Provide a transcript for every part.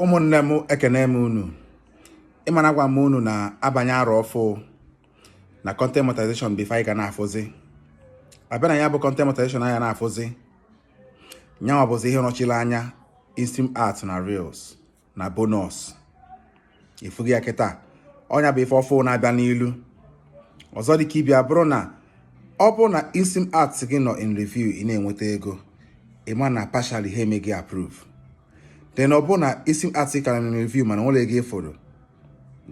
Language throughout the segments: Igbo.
ụmụnne m ekene m unu ị ma na agwa m unu na abanye arọ ọfụ na content monetization bụ ife anyị ga na-afụzi abịa na ya bụ content monetization anyị ga na-afụzi nyanwa bụzi ihe nọchiri anya in-stream ad na reels na bonus ifughị ya kịta ọ nya bụ ife ọfụ na-abịa n'ilu ọzọ dịka ị bịa bụrụ na ọ bụrụ na in-stream ad gị nọ in review ị na-enweta ego ị ma na partially ha eme gị approve then ọ bụrụ na in-stream ad ka nọ review mana nwere ego ị fụrụ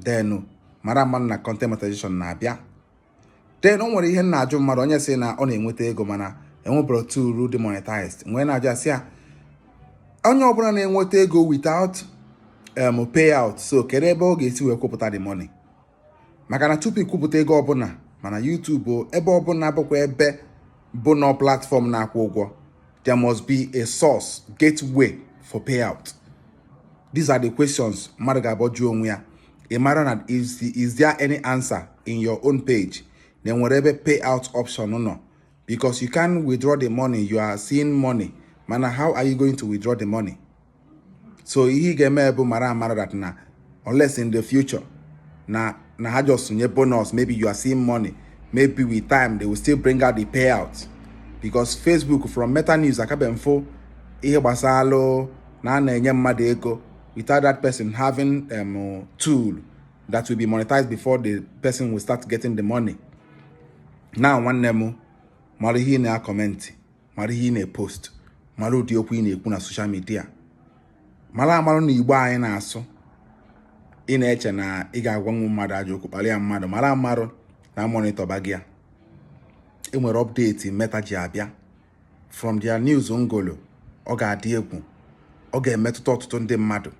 then mara amarụ na content monetization na-abịa then o nwere ihe m na-ajụ mmadụ onye sị na ọ na-enweta ego mana enweburo tool dị monetized m wee na-ajụ asị ya onye ọbụla na-enweta ego without um, payout so kedu ebe ọ ga-esi wee kwụpụta the money maka na tupu ikwupụta ego ọbụla ma na YouTube o ebe ọbụla bụkwa ebe bụ na platform na-akwụ ụgwọ there must be a source gateway for payout these are the questions mmadụ ga-abọ jụọ onwe ya ị mara na is there any answer in your own page na e nwere ebe payout option nọ because you can withdraw the money you are seeing money mana how are you going to withdraw the money so ihe ị ga-eme bụ mara amara that na unless in the future na na ha just nye bonus maybe you are seeing money maybe with time they will still bring out the payout because Facebook from Meta News akabe mfo ihe gbasalụ na a na-enye mmadụ ego without that person having um, tool that will be monetized before the person will start getting the money. Now nwanne m mara ihe ị na-acomment mara ihe ị na-epost mara ụdị okwu ị na-ekwu na social media mara amarụ na Igbo anyị na-asụ ị na-eche na ị ga-agwa nwa mmadụ ajọ okwu kpalịa mmadụ mara amarụ na monitorba gị ya e nwere update Meta ji abịa from their news m gụlụ ọ ga-adị egwu ọ ga-emetụta ọtụtụ ndị mmadụ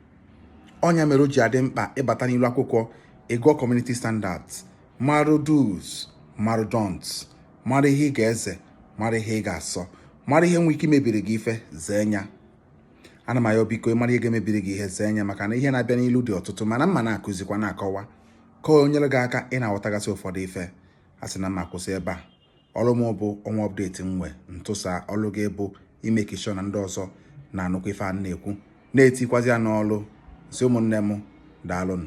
ọ nya mere o ji adị mkpa ịbata n'ilu akwụkwọ ị gụọ community standards marụ do's marụ don'ts mara ihe ị ga-eze mara ihe ị ga-asọ mara ihe nwee ike imebiri gị ife zee nya ana m ayọ biko mara ihe ga-emebiri gị ihe zee nya maka na ihe na-abịa n'ilu dị ọtụtụ mana m ma na-akụzikwa na-akọwa ka o nyere gị aka ị na-aghọtagasị ụfọdụ ife a sị na m ma kwụsị ebe a ọrụ m bụ ọnwa update m nwe m tụsa ọrụ gị bụ ịmake sure na ndị ọzọ na-anụkwa ife a na-ekwu na-etikwazi ya n'ọrụ si ụmụnne m daalụnụ